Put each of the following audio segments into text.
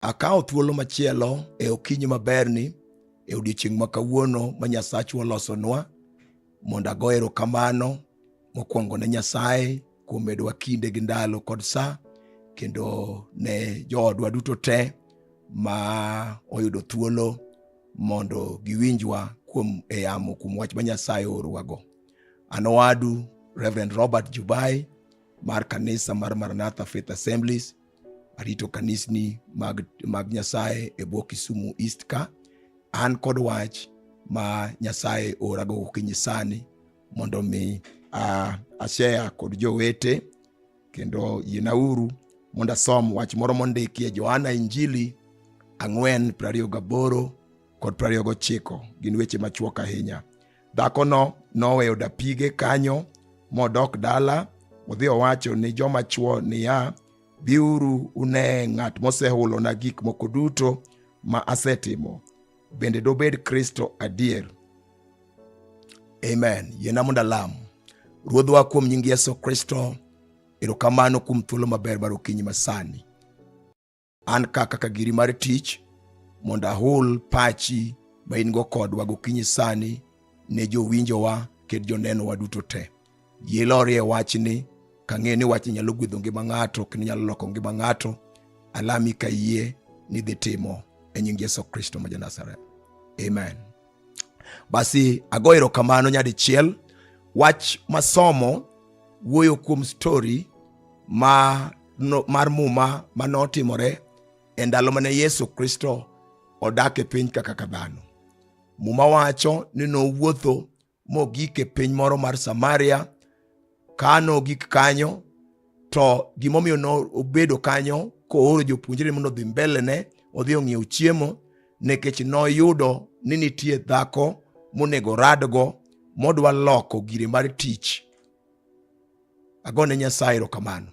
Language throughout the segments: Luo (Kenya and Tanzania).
Akawo thuolo machielo e okinyi maberni e odiechieng' ma kawuono ma Nyasachwa olosonwa mondo ago erokamano mokwongo ne Nyasaye kuom medowa kinde gi ndalo kod sa kendo ne joodwa duto te ma oyudo thuolo mondo giwinjwa kuom eyamo kuom wach ma Nyasaye oorowago. An owadu Reverend Robert Jubai mar kanisa mar Maranatha Faith Assemblies arito kanisni mag, mag nyasaye e bwo kisumu east ka an kod wach ma nyasaye orago gokinyi sani mondo mi uh, ashea kod jowete kendo yienauru mondo asom wach moro mondikie johana injili ang'wen prariyo gaboro kod prariyo gochiko gin weche machuok ahinya Dhakono noweyo dapige kanyo modok dala odhi owacho ni joma chwo niya, Biuru une ng'at mosehulona gik moko duto ma asetimo. Bende dobed Kristo adier? Amen. Yiena mondo alam. Ruodhwa kuom nying Yesu Kristo, erokamano kuom thuolo maber mar okinyi masani. an ka kaka giri mar tich mondo ahul pachi ma in go kodwa gokinyi sani ne jowinjowa kendo jonenowa duto te yie lorie wachni kang'eyo ni wachni nyalo gwedho ngima ng'ato kendo nyalo loko ngima ng'ato alami ka yie ni dhi timo e nying Yesu Kristo ma ja Nazareth. Amen. Basi ago erokamano nyadichiel. Wach masomo wuoyo kuom stori ma no, mar muma ma notimore e ndalo mane Yesu Kristo odak e piny kaka ka dhano. Muma wacho ni nowuotho mogik e piny moro mar Samaria kano gik kanyo to gimomiyo nobedo kanyo kooro jopuonjre mondo odhi mbelene odhi ong'iew chiemo nikech noyudo ni nitie dhako monego radgo modwa loko gire mar tich agone nyasaye erokamano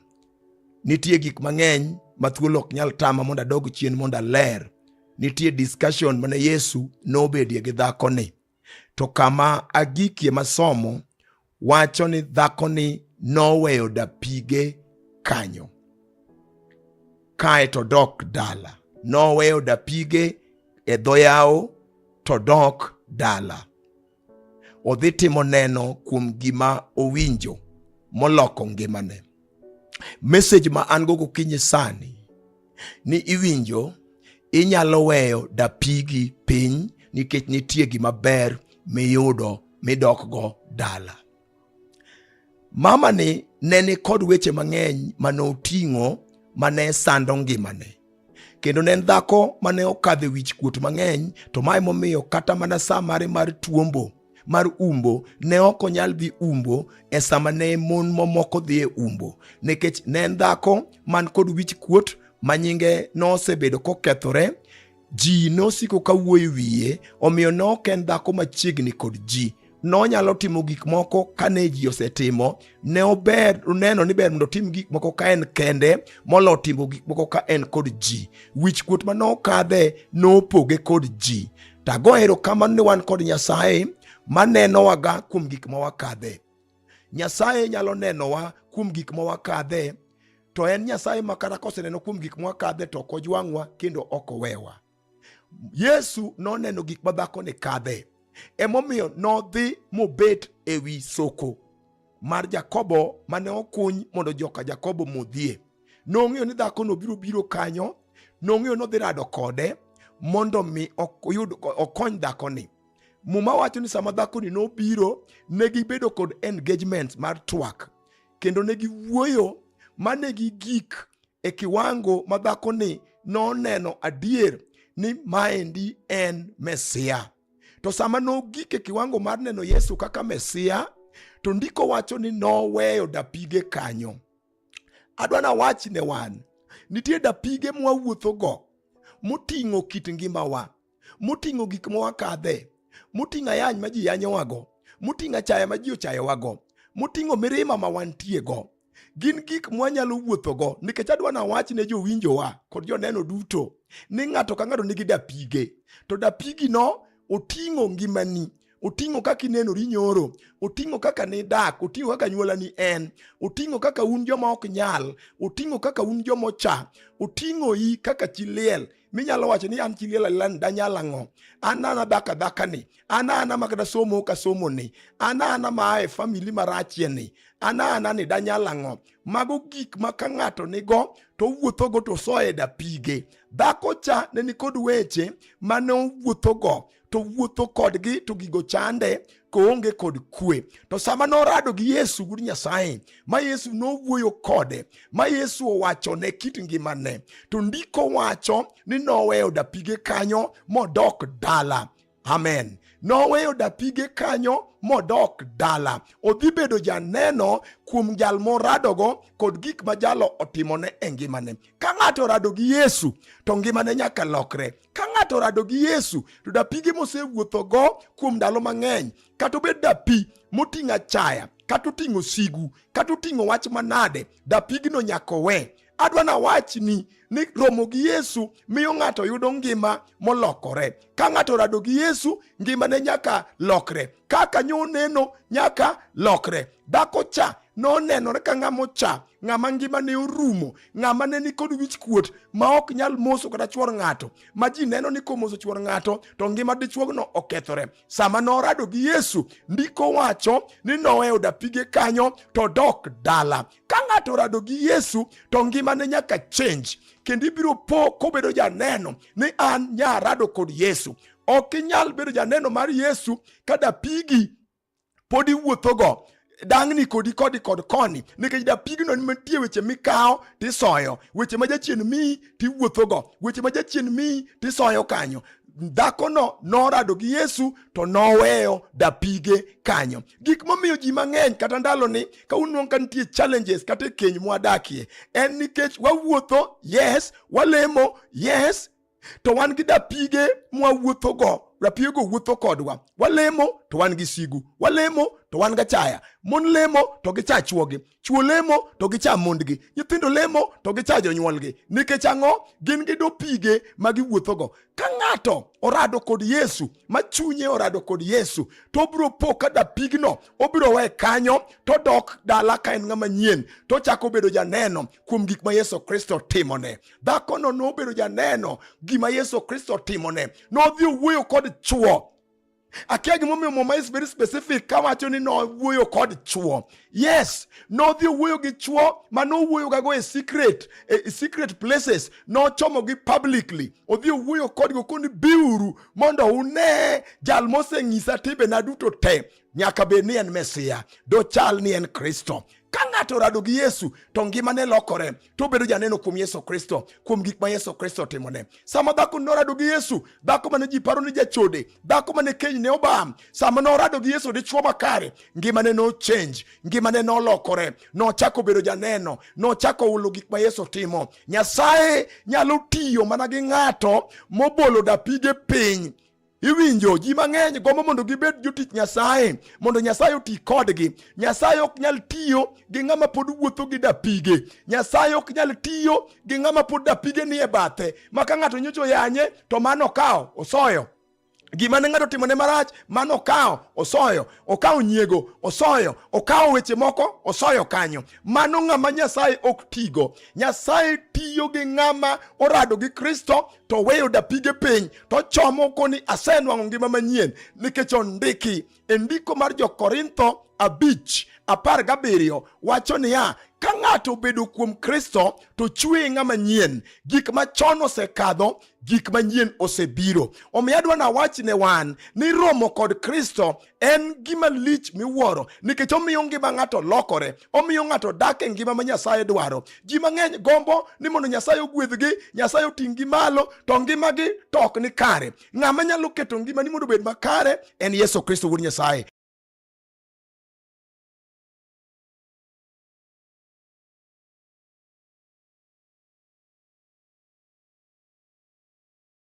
nitie gik mang'eny ma thuolo ok nyal tama mondo adog chien mondo aler nitie discussion mane yesu nobedie gi dhakoni To kama agikie masomo wacho ni dhakoni noweyo dapige kanyo kae to dok dala. Noweyo dapige e dho yawo to dok dala. Odhi timo neno kuom gima owinjo moloko ngimane. Message ma an go gokinyi sani ni iwinjo inyalo weyo dapigi piny nikech nitie gima ber miyudo midokgo dala. Mamani ne ni kod weche mang'eny mane oting'o mane sando ngimane. kendo ne en dhako mane okadhe wich kuot mang'eny to ma emomiyo kata mana sa mare mar tuombo mar umbo ne ok onyal dhi umbo e sama ne mon mamoko dhi e umbo nikech ne en dhako man kod wich kuot ma nyinge nosebedo kokethore ji nosiko ka wuoyo wiye omiyo ne ok en dhako machiegni kod ji nonyalo timo gik moko kane ji osetimo ne ober neno ni ber mondo otim gik moko ka en kende molo timo gik moko ka en kod ji wich kuot ma nokadhe nopoge kod ji tago erokamano ni wan kod nyasaye manenowaga kuom gik ma wakadhe nyasaye nyalo nenowa kuom gik ma wakadhe to en nyasaye ma kata koseneno kuom gik ma wakadhe to ok ojwang'wa kendo ok owewa Yesu noneno gik ma dhakoni kadhe, emomiyo nodhi mobet e wi soko mar Jakobo mane okuny mondo joka Jakobo modhie. Nong'eyo ni dhakono biro biro kanyo, nong'eyo nodhi rado kode mondo mi oyud okony dhakoni. Muma wacho ni sama dhakoni nobiro, ne gibedo kod engagement mar twak kendo ne giwuoyo mane gi gik e kiwango ma dhakoni noneno adier ni maendi en Mesia. To sama nogik e kiwango mar neno Yesu kaka Mesia, to ndiko wacho ni noweyo dapige kanyo. Adwa na wach ne wan, nitie dapige mwawuothogo moting'o kit ngimawa, moting'o gik ma wakadhe, moting'o ayany ma ji yanyowago, moting'o achaya ma ji ochayowago, moting'o mirima ma wantiego. Gin gik mwanyalo wuothogo nikech adwa nawach ne jowinjowa kod joneno duto ni ng'ato ka ng'ato nigi dapige, to dapigino oting'o ngimani oting'o kaka inenori nyoro oting'o kaka nidak oting'o kaka nyuolani en oting'o kaka un joma ok nyal oting'o kaka un joma ocha oting'oi kaka chi liel minyalo wacho ni an chiliel alila ni danyal ang'o an ana dhako adhaka ni an ana ma kata somo ka somo ni an ana ma ae famili marachie ni an ana ni danyal ang'o mago gik ma ka ng'ato nigo to owuothogo to soye da pige dhako cha ne nikod weche ma ne owuothogo to wuotho kodgi to gigo chande koonge kod kwe. To sama norado gi Yesu gur Nyasaye, ma Yesu nowuoyo kode, ma Yesu owachone kit ngimane, to ndiko wacho ni noweyo dapige kanyo modok dala. Amen. Noweyo dapige kanyo modok dala. Odhi bedo janeno kuom jal moradogo kod gik ma jalo otimone e ngimane. Ka ng'ato orado gi Yesu to ngimane nyaka lokre. Ka ng'ato orado gi Yesu to dapige mosewuothogo kuom ndalo mang'eny, kata obed dapi moting'o achaya, kata oting'o sigu, kata oting'o wach manade, dapigno nyaka owe. Adwa nawachni ni romo gi Yesu miyo ng'ato yudo ngima molokore. Ka ng'ato orado gi Yesu, ngimane nyaka lokre. kaka nyo neno nyaka lokre. Dhako cha nonenore ka ng'ama ocha, ng'ama ngima ne orumo, ng'ama ne ni kod wich kuot ma ok nyal moso kata chwor ng'ato, ma ji neno ni komoso chwor ng'ato to ngima dichuogno okethore. Sama norado gi Yesu, ndiko wacho ni noweyo dapige kanyo to dok dala. Ka ng'ato rado gi Yesu to ngima ne nyaka change kendo ibiro po kobedo janeno ni an nyarado kod Yesu. Ok inyal bedo janeno mar Yesu ka dapigi pod iwuothogo dang'ni kodi kodi kod koni nikech dapigno nitie weche mikawo tisoyo weche ma jachien miyi tiwuothogo weche ma jachien miyi tisoyo kanyo dhakono norado gi yesu to noweyo dapige kanyo gik momiyo ji mang'eny kata ndaloni ka unwang' ka nitie challenges kata e keny mwadakie en nikech wawuotho yes walemo yes to wan gi dapige mwawuothogo rapigego wuotho kodwa walemo to wan gi sigu walemo to wan gachaya mon lemo to gicha chwogi chwo lemo to gicha mondgi nyithindo lemo to gicha jonyuolgi nikech ang'o gin gi dopige ma giwuothogo ka ng'ato orado kod yesu ma chunye orado kod yesu to obiro po ka dapigno obiro we kanyo to dok dala ka en ng'ama nyien to chako bedo janeno kuom gik ma yesu kristo timone Dhakono nobedo janeno gima Yesu Kristo timone. Nodhi owuoyo kod chwo. Akia gimomiyo Muma is very specific kawacho ni nowuoyo kod chwo. Yes, nodhi owuoyo gi chwo ma nowuoyogago e secret, e secret places, nochomogi publicly. Odhi owuoyo kodgo koni biuru mondo une jal moseng'isa timbena duto te. Nyaka bed ni en Mesia, dochal ni en Kristo. Ka ng'ato orado gi Yesu to ngimane lokore. to obedo janeno kuom Yesu Kristo, kuom gik ma Yesu Kristo otimone. Sama dhako norado gi Yesu, dhako mane ji paro ni jachode, dhako mane keny ne obam, sama norado gi Yesu dichwo makare, ngimane no change, ngimane nolokore, nochako bedo janeno, nochako hulo gik ma Yesu timo. Nyasaye nyalo tiyo mana gi ng'ato mobolo dapige piny Iwinjo, ji mang'eny gombo mondo gibed jotich Nyasaye, mondo Nyasaye oti kodgi. Nyasaye ok nyal tiyo gi ng'ama pod wuotho gi dapige. Nyasaye ok nyal tiyo gi ng'ama pod dapige nie bathe, ma ka ng'ato nyocho yanye to mano okawo osoyo gima ne ng'ato timone marach mano okawo osoyo okawo nyiego osoyo okawo weche moko osoyo kanyo mano ng'ama nyasaye ok tigo nyasaye tiyo gi ng'ama orado gi kristo to oweyo dapige piny to ochomo koni asenwang'o ngima manyien nikech ondiki e ndiko mar jokorintho abich apar gabiriyo wacho niya ka ng'ato obedo kuom kristo to chweye ng'ama nyien gik machon osekadho gik manyien osebiro omiyo adwa nawach ne wan ni romo kod kristo en gima lich miwuoro nikech omiyo ngima ng'ato lokore omiyo ng'ato dak e ngima ma nyasaye dwaro ji mang'eny gombo ni mondo nyasaye ogwedhgi nyasaye oting'gi malo to ngimagi to ok ni kare ng'ama nyalo keto ngimani mondo obed makare en yesu kristo wuod nyasaye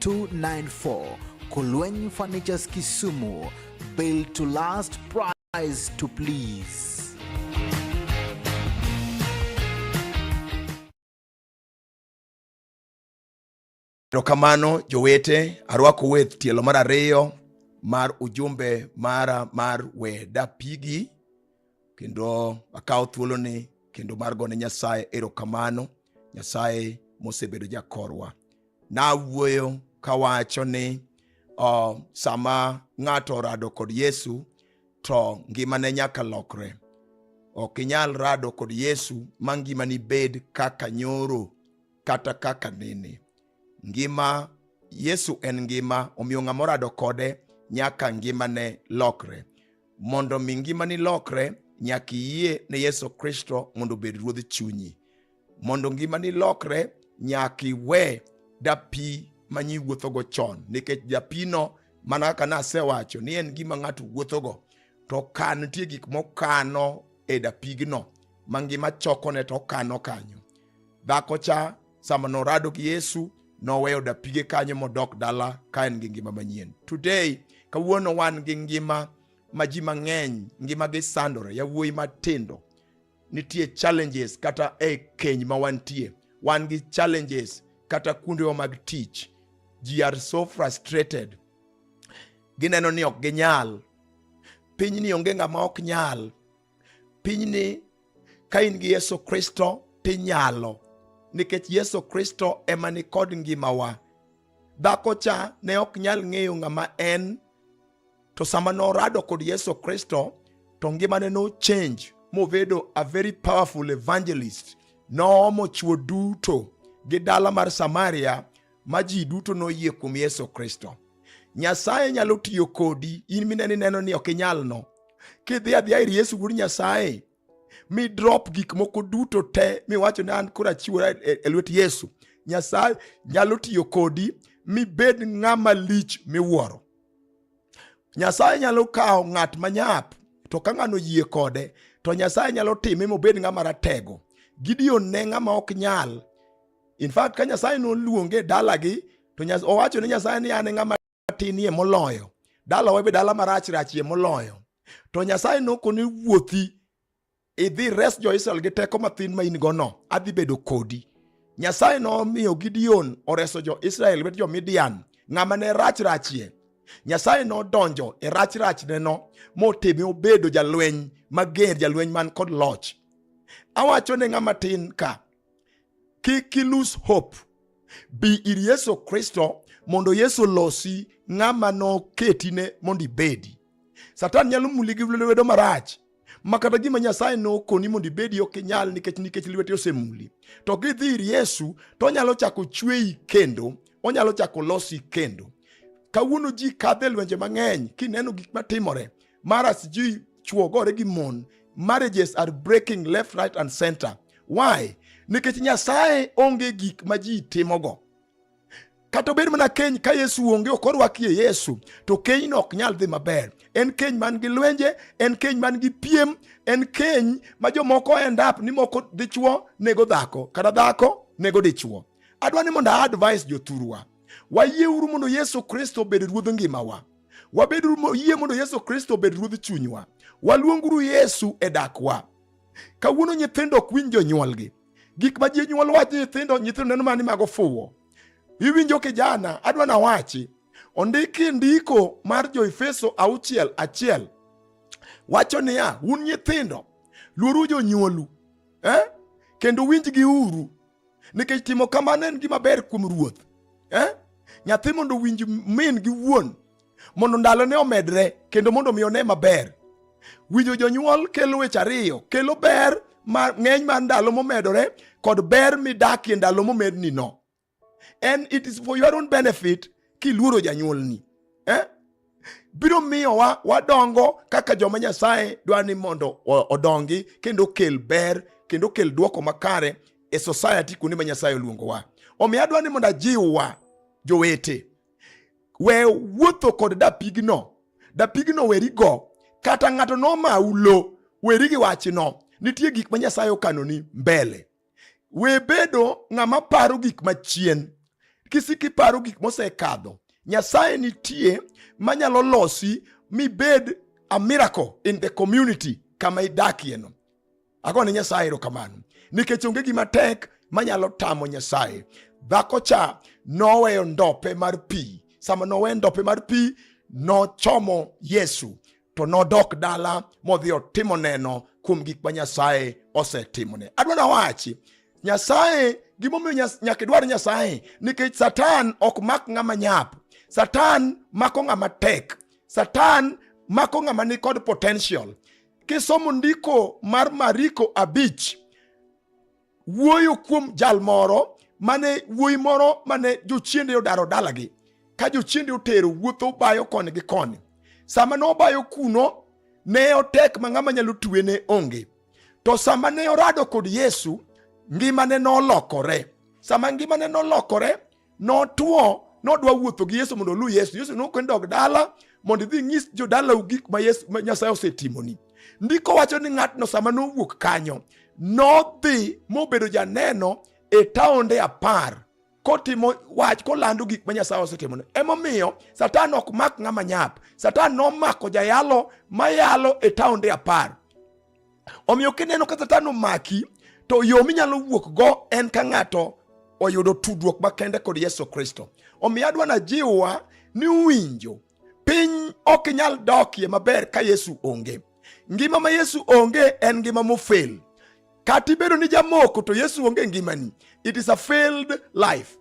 294 Kulweny Furnitures Kisumu. Built to last, price to please. Erokamano jowete, arwako weth tielo mar ariyo mar ujumbe mara mar we dapigi kendo akawo thuoloni kendo mar gone Nyasaye erokamano. Nyasaye mosebedo jakorwa. Nawuoyo kawacho ni uh, sama ng'ato orado kod Yesu to ngimane nyaka lokre. Ok inyal rado kod Yesu ma ngimani bed kaka nyoro kata kaka nene. Ngima Yesu en ngima, omiyo ng'ama orado kode nyaka ngimane lokre. Mondo mi ngimani lokre, nyaka iyie ne Yesu Kristo mondo obed ruodh chunyi. Mondo ngimani lokre, nyaka iwe dapi ma nyi wuothogo chon, nikech dapino mana kaka nasewacho ni en gima ng'ato wuothogo, to ka nitie gik mokano e dapigno ma ngima chokone to okano kanyo. Dhako cha sama norado gi Yesu noweyo dapige kanyo modok dala ka en gi ngima manyien. Today, kawuono wan gi ngima ma ji mang'eny ngima gi sandore, yawuoyi matindo nitie challenges kata e keny ma wantie, wan gi challenges kata kuondewa mag tich. Ji are so frustrated, gineno ni ok ginyal. Pinyni onge ng'ama ok nyal. Pinyni ka in gi Yesu Kristo tinyalo, nikech Yesu Kristo ema ni kod ngimawa. Dhako cha ne ok nyal ng'eyo ng'ama en, to sama norado kod Yesu Kristo to ngimane no change mobedo a very powerful evangelist. Noomo chwo duto gi dala mar Samaria ma ji duto noyie kuom Yesu Kristo. Nyasaye nyalo tiyo kodi in mineni neno ni ok inyalno, kidhi adhiya ir Yesu wuod Nyasaye mi drop gik moko duto te miwacho ni an koro achiwora e, e lwet Yesu, Nyasaye nyalo tiyo kodi mibed ng'ama lich miwuoro. Nyasaye nyalo kawo ng'at manyap to ka ng'ano yie kode to Nyasaye nyalo time mobed ng'ama ratego. Gideon ne ng'ama ok nyal. In fact ka Nyasaye noluonge dalagi to owacho ne Nyasaye ni an e ng'ama matinie moloyo dalawa be dala marach rachie moloyo to nyasaye nokoni wuothi idhi res jo-israel gi teko mathin ma in gono adhi bedo kodi nyasaye nomiyo gideon oreso jo-israel wet jo-midian ng'ama ne rach rachie nyasaye nodonjo e rach rachneno motime obedo jalweny mager jalweny man kod loch awacho ne ng'ama tin ka kik ilus hope bi ir yesu kristo mondo yesu losi ng'ama noketine mondo ibedi satan nyalo muli gi lwedo marach ma kata gima nyasaye nokoni mondo ibedi ok inyal nikech nikech lwete osemuli to kidhi ir yesu to onyalo chako chweyi kendo onyalo chako losi kendo kawuono ji kadhe lwenje mang'eny kineno gik matimore mara sijui chuo gore gi mon marriages are breaking left right and center why nikech nyasaye onge gik ma ji timogo kata obed mana keny ka yesu onge ok orwakie yesu to kenyno ok nyal dhi maber en keny man gi lwenje en keny man gi piem en keny ma jomoko endap ni moko dichuo nego dhako kata dhako nego dichuo adwa ni mondo aadvise jothurwa wayieuru mondo yesu kristo obed ruodh ngimawa Wabed yie mondo Yesu Kristo obed ruodh chunywa. Waluonguru Yesu e dakwa. Kawuono nyithindo ok winj jonyuolgi. Gik ma jonyuol wacho nyithindo, nyithindo neno mani mago fuwo. Iwinjo kijana, adwa na wachi. Ondiki ndiko mar Joefeso auchiel achiel wacho niya, un nyithindo luoru jonyuolu eh? kendo winjgi uru nikech timo kamano en gima ber kuom ruoth eh? nyathi mondo owinj min gi wuon mondo ndalone omedre kendo mondo mi one maber winjo jonyuol kelo weche ariyo kelo ber ng'eny mar ndalo momedore kod ber midakie ndalo momedni no and it is for your own benefit kiluoro janyuolni eh? biro miyowa wadongo kaka joma Nyasaye dwa ni mondo odongi kendo kel ber kendo kel dwoko makare e society kuonde ma Nyasaye oluongowa. Omiyo adwa ni mondo ajiwwa jowete, we wuotho kod dapigno, dapigno werigo, kata ng'ato nomau lo, weri gi wachno. Nitie gik ma Nyasaye okanoni mbele. We bedo ng'ama paro gik machien. Kisiki paro gik mosekadho. Nyasaye nitie manyalo losi mibed a miracle in the community kama idakieno. Agone Nyasaye erokamano nikech onge gima tek manyalo tamo Nyasaye. Dhako cha noweyo ndope mar pi. Sama nowe ndope mar pi, nochomo Yesu to nodok dala modhi otimo neno kuom gik ma Nyasaye osetimone. Adwa nawachi Nyasaye, gimomiyo nyaka idwar Nyasaye nikech Satan ok mak ng'ama nyap. Satan mako ng'ama tek. Satan mako ng'ama ni kod potential. Kisomo ndiko mar Mariko abich wuoyo kuom jal moro mane wuoyi moro mane jochiende odaro dalagi ka jochiende otero wuotho bayo koni gi koni sama ne obayo kuno ne otek ma ng'ama nyalo twe ne onge to sama ne orado kod yesu ngimane nolokore sama ngimane nolokore Notwo, nodwa wuotho gi Yesu mondo oluw Yesu. Yesu nokwen dog dala mondo idhi nyis jodalau gik ma Yesu ma Nyasaye osetimoni. Ndiko wacho ni ng'atno sama nowuok kanyo nodhi mobedo janeno e taonde apar kotimo wach kolando gik ma Nyasaye osetimone. Emomiyo Satan ok mak ng'ama nyap. Satan nomako jayalo mayalo e taonde apar. Omiyo kineno ka Satan omaki to yo minyalo wuok go en ka ng'ato oyudo tudruok makende kod Yesu Kristo. Omiyo adwa na jiwa ni winjo piny ok inyal dokie maber ka Yesu onge. Ngima ma Yesu onge en ngima mofel. Kata ibedo ni jamoko to Yesu onge ngimani. It is a failed life.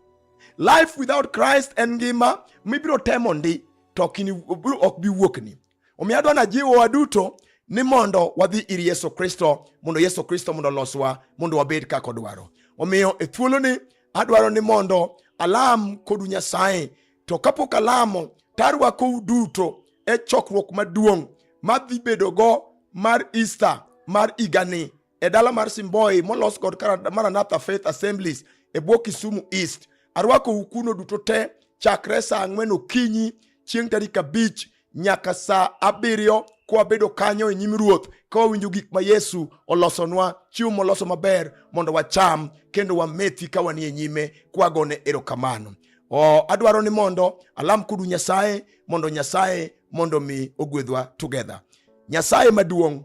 Life without Christ en ngima mibiro temo ndi to ok bi wuokni. Omiyo adwa najiwo waduto ni mondo wadhi ir Yesu Kristo mondo Yesu Kristo mondo oloswa mondo wabed kaka odwaro. Omiyo e thuoloni adwaro ni mondo alam kodu Nyasaye, to kapok alamo tarwakou duto e chokruok maduong' madhi bedogo mar Easter mar igani e dala mar Simboi molos kod Maranatha Faith Assemblies e bwo Kisumu East. Arwako ukuno duto te chakre saa ang'wen okinyi chieng' tarik abich nyaka saa abiriyo kwabedo kanyo e nyim ruoth ka wawinjo gik ma yesu olosonwa chiwo moloso maber mondo wacham kendo wamethi ka wanie nyime kwagone erokamano o adwaro ni mondo alam kudu nyasaye mondo nyasaye mondo mi ogwedhwa together nyasaye maduong'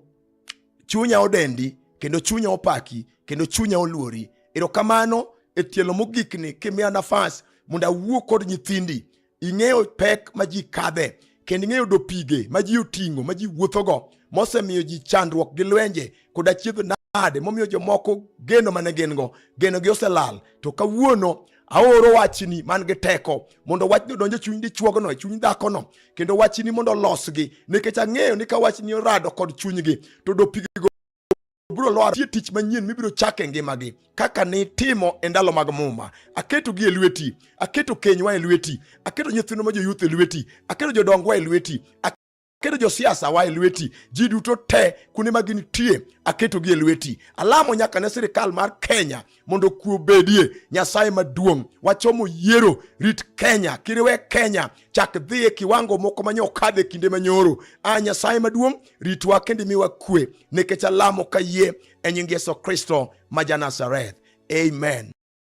chunya odendi kendo chunya opaki kendo chunya oluori erokamano e tielo mogikni kimiya nafas mondo awuo kod nyithindi ing'eyo pek ma ji kadhe kendo ing'eyo do pige ma ji oting'o ma ji wuothogo mosemiyo ji chandruok gi lwenje kod achiedh nade momiyo jomoko geno mane gin go genogi oselal to kawuono aoro wachni man gi teko mondo wachni odonj e chuny dichuogno e chuny dhakono kendo wachni mondo olosgi nikech ang'eyo ni ka wachni orado kod chunygi to dopigigo biro lwar tie tich manyien mibiro chako e ngimagi kaka nitimo e ndalo mag muma aketogi e lweti aketo kenywa e lweti aketo nyithindo ma joyuth e lweti aketo jodongwa e lweti Keto josiasa wa e lweti, ji duto te kuonde ma gintie aketogi e lweti. Alamo nyaka ne sirikal mar Kenya mondo kuo bedie. Nyasaye maduong', wachomo yiero, rit Kenya, kiriwe Kenya chak dhi e kiwango moko manye okadhe kinde manyoro. A ah, Nyasaye maduong', ritwa kendo imiwa kwe, nikech alamo kayie e nying Yesu Kristo ma ja Nazareth. Amen.